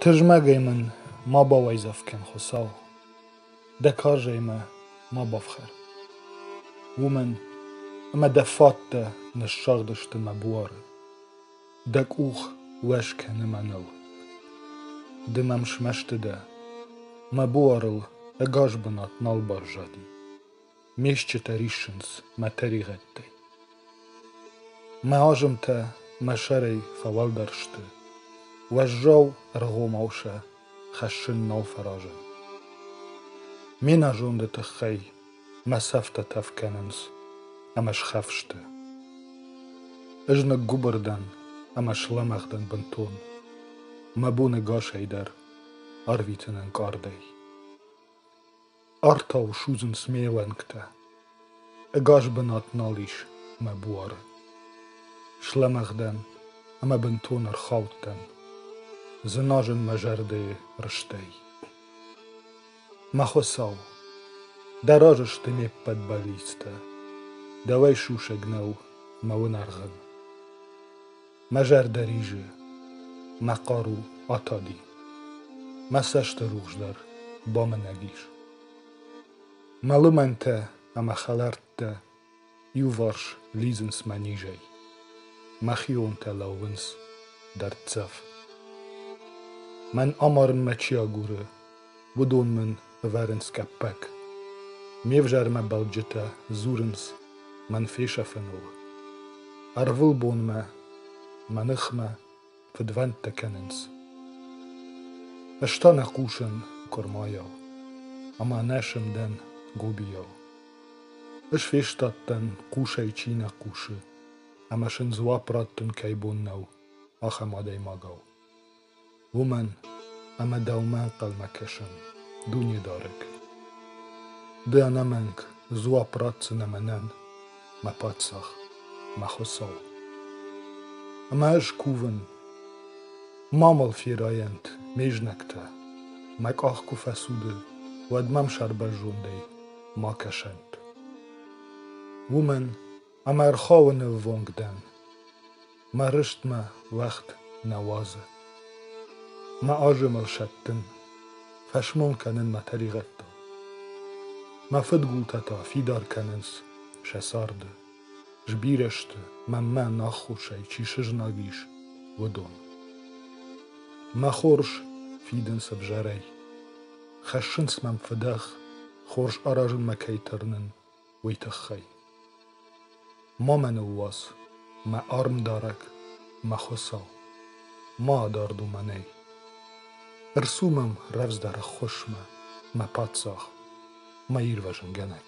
Тызмӕгӕй мын ма бауайдзӕф кӕн, Хуыцау, дӕ карзӕй мӕ ма бафхӕр, уымӕн ӕмӕ дӕ фӕдтӕ ныссагъдысты мӕ буары, дӕ къух уӕ скӕны мӕныл. Ды мӕм смӕсты дӕ, мӕ буарыл ӕгас бынат нал баззади. Ме стджытӕ риссынц мӕ тӕригъӕдтӕй. Мӕ азымтӕ мӕ сӕрӕй фӕуӕлдӕр сты, уӕззау ӕргъомау сӕ хӕссын нал фӕразын. Ме нӕзонды тыххӕй мӕ цӕфтӕ тӕф кӕнынц ӕмӕ схӕфсты. Ӕз ныггуыбыр дӕн ӕмӕ слӕмӕгъ дӕн бынтон. Мӕ боны гасӕй дӕр арвитын ӕнкъардӕй. Артау судзынц ме лӕнгтӕ, Ӕгас бынат нал ис мӕ буары. Слӕмӕгъдӕн ӕмӕ бынтон ӕрхаудтӕн, Дзыназын мӕ зӕрдӕйы рыстӕй. Мӕ Хуыцау, дӕ разы сты ме ппӕт бӕллицтӕ, Дӕуӕй сусӕг нӕу мӕ уынӕргъын. Мӕ зӕрдӕ ризы, мӕ хъару атади. Мӕ цӕсты рухс дӕр бамынӕг ис. Мӕ лымӕнтӕ ӕмӕ хӕлӕрттӕ иуварс лидзынц мӕ низӕй. Мӕхионтӕ лӕууынц дӕрддзӕф. Мӕн амарынмӕ чи агуры, Уыдон мын ӕвӕрынц къӕппӕг. Ме взӕрмӕ бӕлджытӕ дзурынц мӕн фесӕфыныл. Ӕрвылбонмӕ мӕ ныхмӕ фыдвӕндтӕ кӕнынц. Ӕз та нӕ хъусын куырмайау, ӕмӕ нӕ сымдӕн гобийау. Ӕз фестадтӕн, хъусӕй чи нӕ хъусы, ӕмӕ сын дзуапп раттын кӕй бон нӕу, ахӕм адӕймагау. уымӕн ӕмӕ дӕумӕ ӕнхъӕлмӕ кӕсӕм Дунедарӕг. Ды ӕнӕмӕнг дзуапп ратдзынӕ мӕнӕн, мӕ Паддзах, мӕ Хуыцау. Ӕмӕ ӕз кувын, ма мыл ферайӕнт ме знӕгтӕ, мӕ къах куы фӕцуды, уӕд мӕм сӕрбӕрзондӕй ма кӕсӕнт. Уымӕн Ам ӕрхауы ныввонг дӕн, Мӕ рыст мӕ уӕгъд нӕ уадзы. Мӕ азымыл сӕттын, Фӕсмон кӕнын мӕ тӕригъӕдтыл. Мӕ фыдгултӕ та фидар кӕнынц сӕ царды, Сбирӕ сты, мӕнмӕ наххосӕй чи сызнаг ис, уыдон. Мӕ хорз фидынц ӕвзӕрӕй, Хӕссынц мӕм фыдӕх, хорз аразынмӕ кӕй тырнын, уый тыххӕй. Ма мӕ ныууадз, мӕ армдарӕг, мӕ Хуыцау, ма адард уымӕнӕй. Ӕрцу мӕм рӕвдздӕр ӕххуысмӕ, мӕ паддзах, мӕ ирвӕзынгӕнӕг.